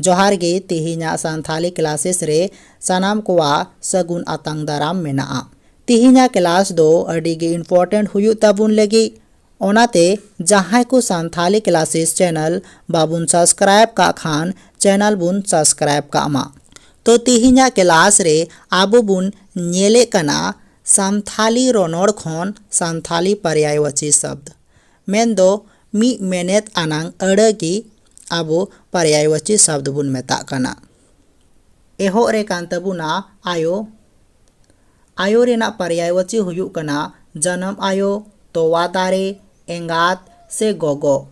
ᱡᱚᱦᱟᱨ ᱜᱮ ᱛᱮᱦᱮᱧᱟᱜ ᱥᱟᱱᱛᱷᱟᱞᱤ ᱠᱞᱟᱥᱮᱥ ᱨᱮ ᱥᱟᱱᱟᱢ ᱠᱚᱣᱟᱜ ᱥᱟᱹᱜᱩᱱ ᱟᱛᱟᱝ ᱫᱟᱨᱟᱢ ᱢᱮᱱᱟᱜᱼᱟ ᱛᱮᱦᱮᱧᱟᱜ ᱠᱞᱟᱥ ᱫᱚ ᱟᱹᱰᱤ ᱜᱮ ᱤᱢᱯᱚᱨᱴᱮᱱᱴ ᱦᱩᱭᱩᱜ ᱛᱟᱵᱚᱱ ᱞᱟᱹᱜᱤᱫ ᱚᱱᱟᱛᱮ ᱡᱟᱦᱟᱸᱭ ᱠᱚ ᱥᱟᱱᱛᱷᱟᱞᱤ ᱠᱞᱟᱥᱮᱥ ᱪᱮᱱᱮᱞ ᱵᱟᱵᱚᱱ ᱥᱟᱵᱥᱠᱨᱟᱭᱤᱵᱽ ᱠᱟᱜ ᱠᱷᱟᱱ ᱪᱮᱱᱮᱞ ᱵᱚᱱ ᱥᱟᱵᱥᱠᱨᱟᱭᱤᱵᱽ ᱠᱟᱜ ᱢᱟ᱾ ᱛᱚ ᱛᱤᱦᱤᱧᱟᱜ ᱠᱞᱟᱥ ᱨᱮ ᱟᱵᱚ ᱵᱚᱱ ᱧᱮᱞᱮᱫ ᱠᱟᱱᱟ ᱥᱟᱱᱛᱷᱟᱞᱤ ᱨᱚᱱᱚᱲ ᱠᱷᱚᱱ ᱥᱟᱱᱛᱷᱟᱞᱤ ᱯᱟᱨᱭᱟᱭᱣᱟᱪᱤ ᱥᱟᱵᱽᱫᱽ ᱢᱮᱱ ᱫᱚ ᱢᱤᱫ ᱢᱮᱱᱮᱛ ᱟᱱᱟᱝ ᱟᱹᱲᱟᱹ ᱜᱮ ᱟᱵᱚ ᱯᱟᱨᱭᱟᱭᱣᱟᱪᱤ ᱥᱟᱵᱽᱫᱽ ᱵᱚᱱ ᱢᱮᱛᱟᱜ ᱠᱟᱱᱟ᱾ ᱮᱦᱚᱵ ᱨᱮ ᱠᱟᱱ ᱛᱟᱵᱚᱱᱟ ᱟᱭᱳ᱾ ᱟᱭᱳ ᱨᱮᱱᱟᱜ ᱯᱟᱨᱭᱟᱭᱣᱟᱪᱤ ᱦᱩᱭᱩᱜ ᱠᱟᱱᱟ ᱡᱟᱱᱟᱢ ᱟᱭᱳ, ᱛᱚᱣᱟ ᱫᱟᱨᱮ, ᱮᱸᱜᱟᱛ, ᱥᱮ ᱜᱚᱜᱚ᱾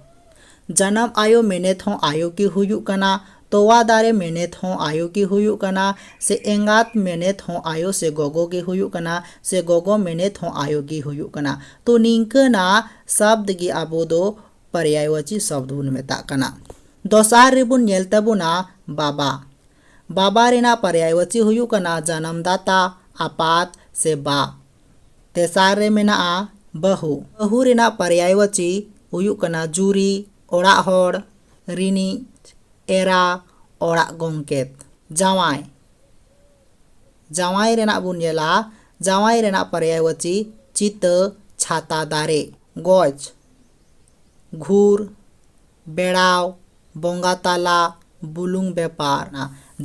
ᱡᱟᱱᱟᱢ ᱟᱭᱳ ᱢᱮᱱᱮᱛ ᱦᱚᱸ ᱟᱭᱳ ᱜᱮ ᱦᱩᱭᱩᱜ ᱠᱟᱱᱟ, ᱛᱚᱣᱟ ᱫᱟᱨᱮ ᱢᱮᱱᱮᱛ ᱦᱚᱸ ᱟᱭᱳ ᱜᱮ ᱦᱩᱭᱩᱜ ᱠᱟᱱᱟ, ᱥᱮ ᱮᱸᱜᱟᱛ ᱢᱮᱱᱮᱛ ᱦᱚᱸ ᱟᱭᱳ ᱥᱮ ᱜᱚᱜᱚ ᱜᱮ ᱦᱩᱭᱩᱜ ᱠᱟᱱᱟ, ᱥᱮ ᱜᱚᱜᱚ ᱢᱮᱱᱮᱛ ᱦᱚᱸ ᱟᱭᱳ ᱜᱮ ᱦᱩᱭᱩᱜ ᱠᱟᱱᱟ᱾ ᱛᱚ ᱱᱤᱝᱠᱟᱹᱱᱟᱜ ᱥᱟᱵᱫᱽ ᱜᱮ ᱟᱵᱚ ᱫᱚ ᱯᱟᱨᱭᱟᱭᱣᱟᱪᱤ ᱥᱟᱵᱫᱽ ᱵᱚᱱ ᱢᱮᱛᱟᱜ ᱠᱟᱱᱟ᱾ ᱫᱚᱥᱟᱨ ᱨᱮᱵᱚᱱ ᱧᱮᱞ ᱛᱟᱵᱚᱱᱟ ᱵᱟᱵᱟ᱾ ᱵᱟᱵᱟ ᱨᱮᱱᱟᱜ ᱯᱟᱨᱭᱟᱭᱣᱟᱪᱤ ᱦᱩᱭᱩᱜ ᱠᱟᱱᱟ ᱡᱟᱱᱟᱢᱫᱟᱛᱟ, ᱟᱯᱟᱛ ᱥᱮ ᱵᱟ᱾ ᱛᱮᱥᱟᱨ ᱨᱮ ᱢᱮᱱᱟᱜᱼᱟ ᱵᱟᱹᱦᱩ᱾ ᱵᱟᱹᱦᱩ ᱨᱮᱱᱟᱜ ᱯᱟᱨᱭᱟᱭᱣᱟᱪᱤ ᱦᱩᱭᱩᱜ ᱠᱟᱱᱟ ᱡᱩᱨᱤ, ᱚᱲᱟᱜ ᱦᱚᱲ, ᱨᱤᱱᱤᱡ, ᱮᱨᱟ, ᱚᱲᱟᱜ ᱜᱚᱢᱠᱮᱛ᱾ ᱡᱟᱶᱟᱭ᱾ ᱡᱟᱶᱟᱭ ᱨᱮᱱᱟᱜ ᱵᱚᱱ ᱧᱮᱞᱟ, ᱡᱟᱶᱟᱭ ᱨᱮᱱᱟᱜ ᱯᱟᱨᱭᱟᱭᱣᱟᱪᱤ ᱪᱤᱛᱟᱹ, ᱪᱷᱟᱛᱟ, ᱫᱟᱨᱮ᱾ ᱜᱚᱡ᱾ ᱜᱷᱩᱨ, ᱵᱮᱲᱟᱣ, ᱵᱚᱸᱜᱟ ᱛᱟᱞᱟ, ᱵᱩᱞᱩᱝ ᱵᱮᱯᱟᱨ᱾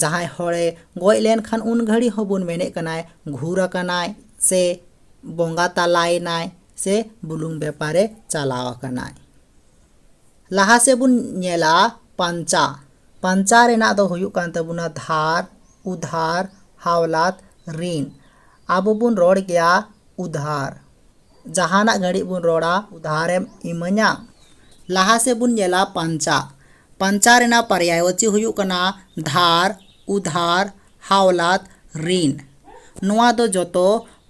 ᱡᱟᱦᱟᱸᱭ ᱦᱚᱲᱮ ᱜᱚᱡ ᱞᱮᱱᱠᱷᱟᱱ ᱩᱱ ᱜᱷᱟᱹᱲᱤ ᱦᱚᱸ ᱵᱚᱱ ᱢᱮᱱᱮᱫ ᱠᱟᱱᱟᱭ ᱜᱷᱩᱨ ᱟᱠᱟᱱᱟᱭ ᱥᱮ ᱵᱚᱸᱜᱟ ᱛᱟᱞᱟᱭᱮᱱᱟᱭ ᱥᱮ ᱵᱩᱞᱩᱝ ᱵᱮᱯᱟᱨᱮ ᱪᱟᱞᱟᱣ ᱟᱠᱟᱱᱟᱭ᱾ ᱞᱟᱦᱟ ᱥᱮᱫ ᱵᱚᱱ ᱧᱮᱞᱟ ᱯᱟᱧᱪᱟ᱾ ᱯᱟᱧᱪᱟ ᱨᱮᱱᱟᱜ ᱫᱚ ᱦᱩᱭᱩᱜ ᱠᱟᱱ ᱛᱟᱵᱚᱱᱟ ᱫᱷᱟᱨ, ᱩᱫᱷᱟᱨ, ᱦᱟᱣᱞᱟᱛ, ᱨᱤᱱ᱾ ᱟᱵᱚ ᱵᱚᱱ ᱨᱚᱲ ᱜᱮᱭᱟ ᱩᱫᱷᱟᱨ᱾ ᱡᱟᱦᱟᱱᱟᱜ ᱜᱷᱟᱹᱲᱤᱡ ᱵᱚᱱ ᱨᱚᱲᱟ ᱩᱫᱷᱟᱨᱮᱢ ᱤᱢᱟᱹᱧᱟ ᱞᱟᱦᱟ ᱥᱮᱫ ᱵᱚᱱ ᱧᱮᱞᱟ ᱯᱟᱧᱪᱟ ᱯᱟᱧᱪᱟ ᱨᱮᱱᱟᱜ ᱯᱟᱨᱭᱟᱭᱵᱟᱪᱤ ᱦᱩᱭᱩᱜ ᱠᱟᱱᱟ ᱫᱷᱟᱨ ᱩᱫᱷᱟᱨ ᱦᱟᱣᱞᱟᱛ ᱨᱤᱱ ᱱᱚᱣᱟ ᱫᱚ ᱡᱚᱛᱚ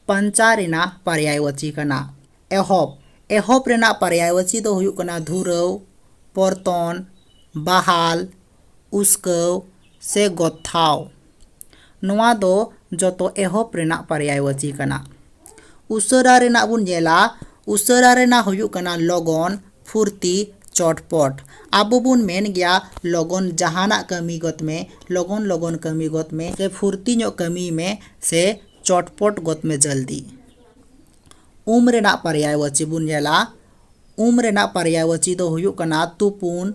ᱯᱟᱧᱪᱟ ᱨᱮᱱᱟᱜ ᱯᱟᱨᱭᱟᱭᱵᱟᱪᱤ ᱠᱟᱱᱟ ᱮᱦᱚᱵ ᱮᱦᱚᱵ ᱨᱮᱱᱟᱜ ᱯᱟᱨᱭᱟᱭᱵᱟᱪᱤ ᱫᱚ ᱦᱩᱭᱩᱜ ᱠᱟᱱᱟ ᱫᱷᱩᱨᱟᱹᱣ ᱯᱚᱨᱛᱚᱱ ᱵᱟᱦᱟᱞ ᱩᱥᱠᱟᱹᱣ ᱥᱮ ᱜᱚᱛᱷᱟᱣ ᱱᱚᱣᱟ ᱫᱚ ᱡᱚᱛᱚ ᱮᱦᱚᱵ ᱨᱮᱱᱟᱜ ᱯᱟᱨᱭᱟᱭᱣᱟᱪᱤ ᱠᱟᱱᱟ᱾ ᱩᱥᱟᱹᱨᱟ ᱨᱮᱱᱟᱜ ᱵᱚᱱ ᱧᱮᱞᱟ, ᱩᱥᱟᱹᱨᱟ ᱨᱮᱱᱟᱜ ᱦᱩᱭᱩᱜ ᱠᱟᱱᱟ ᱞᱚᱜᱚᱱ, ᱯᱷᱩᱨᱛᱤ, ᱪᱚᱴᱯᱚᱴ᱾ ᱟᱵᱚ ᱵᱚᱱ ᱢᱮᱱ ᱜᱮᱭᱟ ᱞᱚᱜᱚᱱ ᱡᱟᱦᱟᱱᱟᱜ ᱠᱟᱹᱢᱤ ᱜᱚᱫᱽ ᱢᱮ, ᱞᱚᱜᱚᱱ ᱞᱚᱜᱚᱱ ᱠᱟᱹᱢᱤ ᱜᱚᱫᱽ ᱢᱮ ᱥᱮ ᱯᱷᱩᱨᱛᱤ ᱧᱚᱜ ᱠᱟᱹᱢᱤᱭ ᱢᱮ ᱥᱮ ᱪᱚᱴᱯᱚᱴ ᱜᱚᱫᱽ ᱢᱮ ᱡᱚᱞᱫᱤ᱾ ᱩᱢ ᱨᱮᱱᱟᱜ ᱯᱟᱨᱭᱟᱭ ᱣᱟᱹᱪᱤ ᱵᱚᱱ ᱧᱮᱞᱟ ᱩᱢ ᱨᱮᱱᱟᱜ ᱯᱟᱨᱭᱟᱭ ᱣᱟᱹᱪᱤ ᱫᱚ ᱦᱩᱭᱩᱜ ᱠᱟᱱᱟ ᱛᱩᱯᱩᱱ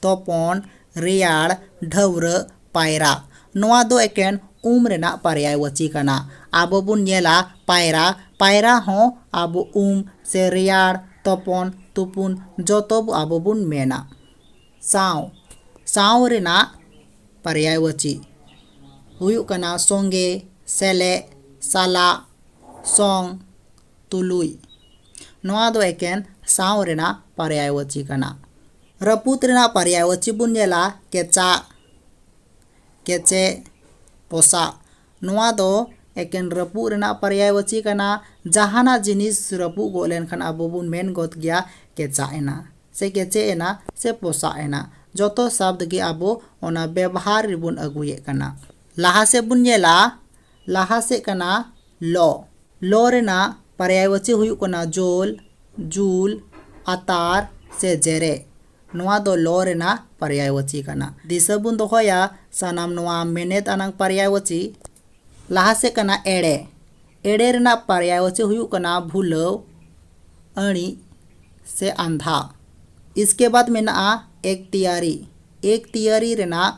ᱛᱚᱯᱚᱱ ᱨᱮᱭᱟᱲ ᱰᱷᱟᱹᱣᱨᱟᱹᱜ ᱯᱟᱭᱨᱟᱜ ᱱᱚᱣᱟ ᱫᱚ ᱮᱠᱮᱱ ᱩᱢ ᱨᱮᱱᱟᱜ ᱯᱟᱨᱭᱟᱭ ᱣᱟᱹᱪᱤ ᱠᱟᱱᱟ ᱟᱵᱚ ᱵᱚᱱ ᱧᱮᱞᱟ ᱯᱟᱭᱨᱟ ᱯᱟᱭᱨᱟ ᱦᱚᱸ ᱟᱵᱚ ᱩᱢ ᱥᱮ ᱨᱮᱭᱟᱲ ᱛᱚᱯᱚᱱ ᱛᱩᱯᱩᱱ ᱡᱚᱛᱚ ᱟᱵᱚ ᱵᱚᱱ ᱢᱮᱱᱟ ᱥᱟᱶ ᱥᱟᱶ ᱨᱮᱱᱟᱜ ᱯᱟᱨᱭᱟᱭ ᱣᱟᱹᱪᱤ ᱦᱩᱭᱩᱜ ᱠᱟᱱᱟ ᱥᱚᱸᱜᱮ ᱥᱮᱞᱮᱫ ᱥᱟᱞᱟᱜ ᱥᱚᱝ, ᱛᱩᱞᱩᱡ᱾ ᱱᱚᱣᱟ ᱫᱚ ᱮᱠᱮᱱ ᱥᱟᱶ ᱨᱮᱱᱟᱜ ᱯᱟᱨᱭᱟᱭᱣᱟᱪᱤ ᱠᱟᱱᱟ᱾ ᱨᱟᱹᱯᱩᱫ ᱨᱮᱱᱟᱜ ᱯᱟᱨᱭᱟᱭᱣᱟᱪᱤ ᱵᱚᱱ ᱧᱮᱞᱟ ᱠᱮᱪᱟᱜ, ᱠᱮᱪᱮᱜ, ᱯᱚᱥᱟᱜ᱾ ᱱᱚᱣᱟ ᱫᱚ ᱮᱠᱮᱱ ᱨᱟᱹᱯᱩᱫ ᱨᱮᱱᱟᱜ ᱯᱟᱨᱭᱟᱭᱣᱟᱪᱤ ᱠᱟᱱᱟ᱾ ᱡᱟᱦᱟᱱᱟᱜ ᱡᱤᱱᱤᱥ ᱨᱟᱹᱯᱩᱫ ᱜᱚᱫ ᱞᱮᱱᱠᱷᱟᱱ ᱟᱵᱚ ᱵᱚᱱ ᱢᱮᱱ ᱜᱚᱫ ᱜᱮᱭᱟ ᱠᱮᱪᱟᱜ ᱮᱱᱟ ᱥᱮ ᱠᱮᱪᱮᱜ ᱮᱱᱟ ᱥᱮ ᱯᱚᱥᱟᱜ ᱮᱱᱟ᱾ ᱡᱚᱛᱚ ᱥᱟᱵᱽᱫᱽ ᱜᱮ ᱟᱵᱚ ᱚᱱᱟ ᱵᱮᱵᱷᱟᱨ ᱨᱮᱵᱚᱱ ᱟᱹᱜᱩᱭᱮᱫ ᱠᱟᱱᱟ᱾ ᱞᱟᱦᱟ ᱥᱮᱫ ᱵᱚᱱ ᱧᱮᱞᱟ ᱞᱟᱦᱟ ᱥᱮᱫ ᱠᱟᱱᱟ ᱞᱚ ᱞᱚ ᱨᱮᱱᱟᱜ ᱯᱟᱨᱭᱟᱭᱣᱟᱪᱤ ᱦᱩᱭᱩᱜ ᱠᱟᱱᱟ ᱡᱳᱞ ᱡᱩᱞ ᱟᱛᱟᱨ ᱥᱮ ᱡᱮᱨᱮᱫ ᱱᱚᱣᱟ ᱫᱚ ᱞᱚ ᱨᱮᱱᱟᱜ ᱯᱟᱨᱭᱟᱭᱣᱟᱪᱤ ᱠᱟᱱᱟ ᱫᱤᱥᱟᱹ ᱵᱚᱱ ᱫᱚᱦᱚᱭᱟ ᱥᱟᱱᱟᱢ ᱱᱚᱣᱟ ᱢᱮᱱᱮᱛ ᱟᱱᱟᱝ ᱯᱟᱨᱭᱟᱭᱣᱟᱪᱤ ᱞᱟᱦᱟ ᱥᱮᱫ ᱠᱟᱱᱟ ᱮᱲᱮ ᱮᱲᱮ ᱨᱮᱱᱟᱜ ᱯᱟᱨᱭᱟᱭᱣᱟᱪᱤ ᱦᱩᱭᱩᱜ ᱠᱟᱱᱟ ᱵᱷᱩᱞᱟᱹᱣ ᱟᱹᱬᱤᱡ ᱥᱮ ᱟᱸᱫᱷᱟ ᱤᱥᱠᱮ ᱵᱟᱫᱽ ᱢᱮᱱᱟᱜᱼᱟ ᱮᱠᱛᱤᱭᱟᱨᱤ ᱮᱠᱛᱤᱭᱟᱨᱤ ᱨᱮᱱᱟᱜ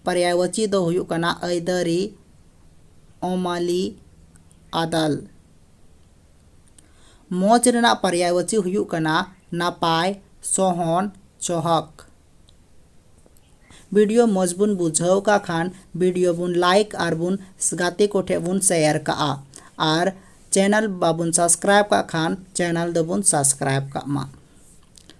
ᱯᱟᱨᱭᱟᱭᱣᱟᱪᱤ ᱫᱚ ᱦᱩᱭᱩᱜ ᱠᱟᱱᱟ ᱟᱹᱭᱫᱟᱹᱨᱤ ᱚᱢᱟᱞᱤ ᱟᱫᱟᱞ᱾ ᱢᱚᱡᱽ ᱨᱮᱱᱟᱜ ᱯᱟᱨᱭᱟᱭᱣᱟᱪᱤ ᱦᱩᱭᱩᱜ ᱠᱟᱱᱟ ᱱᱟᱯᱟᱭ, ᱥᱚᱦᱚᱱ, ᱪᱚᱦᱚᱠ᱾ ᱵᱤᱰᱤᱭᱳ ᱢᱚᱡᱽ ᱵᱚᱱ ᱵᱩᱡᱷᱟᱹᱣ ᱠᱟᱜ ᱠᱷᱟᱱ ᱵᱤᱰᱤᱭᱳ ᱵᱚᱱ ᱞᱟᱭᱤᱠ ᱟᱨ ᱵᱚᱱ ᱜᱟᱛᱮ ᱠᱚ ᱴᱷᱮᱱ ᱵᱚᱱ ᱥᱮᱭᱟᱨ ᱠᱟᱜᱼᱟ ᱟᱨ ᱪᱮᱱᱮᱞ ᱵᱟᱵᱚᱱ ᱥᱟᱵᱥᱠᱨᱟᱭᱤᱵᱽ ᱠᱟᱜ ᱠᱷᱟᱱ ᱪᱮᱱᱮᱞ ᱫᱚᱵᱚᱱ ᱥᱟᱵᱥᱠᱨᱟᱭᱤᱵᱽ ᱠᱟᱜ ᱢᱟ᱾